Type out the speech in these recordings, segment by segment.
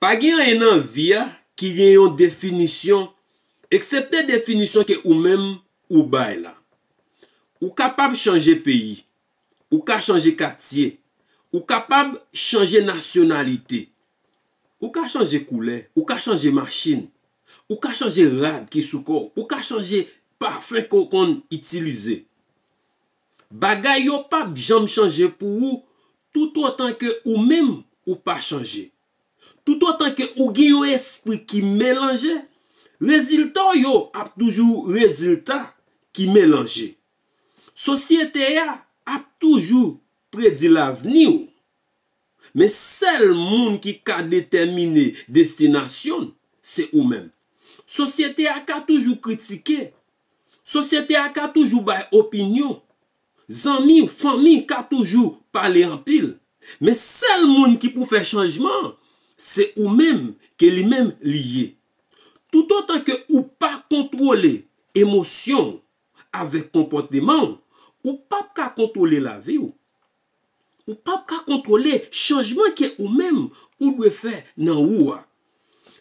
Pa gen anyen nan vi a ki gen yon definisyon eksepte definisyon ke ou menm ou bay la. Ou kapab chanje peyi, ou ka chanje katye, ou kapab chanje nasyonalite, ou ka chanje koulè, ou ka chanje machin, ou ka chanje rad ki sou kò w, ou ka chanje pafen ke w konn itilize. Bagay yo pap janm chanje pou ou toutotan ke ou menm ou pa chanje. Toutotan ke ou gen yon espri ki melanje, rezilta w yo ap toujou rezilta ki melanje. Sosyete a ap toujou predi lavni w. Men sèl moun ki ka detèmine destinasyon l, se ou menm. Sosyete a ka toujou kritike, Sosyete a ka toujou bay opinyon, zanmi, fanmi ka toujou pale anpil, men sèl moun ki pou fè chanjman an se ou menm ke li menm li ye. Toutotan ke ou pa kontwole emosyon ou avèk konpòteman ou, ou pap ka kontwole lavi ou. Ou p ap ka kontwole chanjman ke ou menm ou dwe fè nan ou a.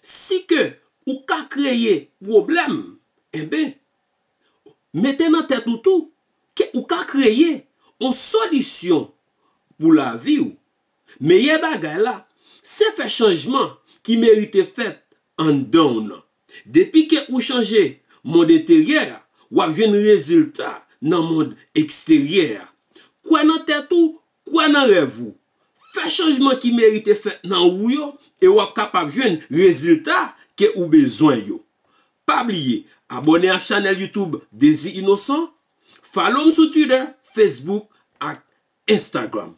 Si ke ou ka kreye pwoblèm, enben, mete nan tèt ou tou ke ou ka kreye yon solisyon pou lavi ou. Meyè bagay la, se fè chanjman ki merite fèt anndan w nan. Depi ke ou chanje mond enteryè a, w ap jwenn rezilta nan mond eksteryè a. Kwè nan tèt ou, kwè nan rèv ou. Fè chanjman ki merite fèt nan ou yo e w ap kapab jwenn rezilta ke ou bezwen yo. Pa bliye abòne ak chanèl YouTube Dezi Inosan, follow m sou Twitter, Facebook ak Instagram.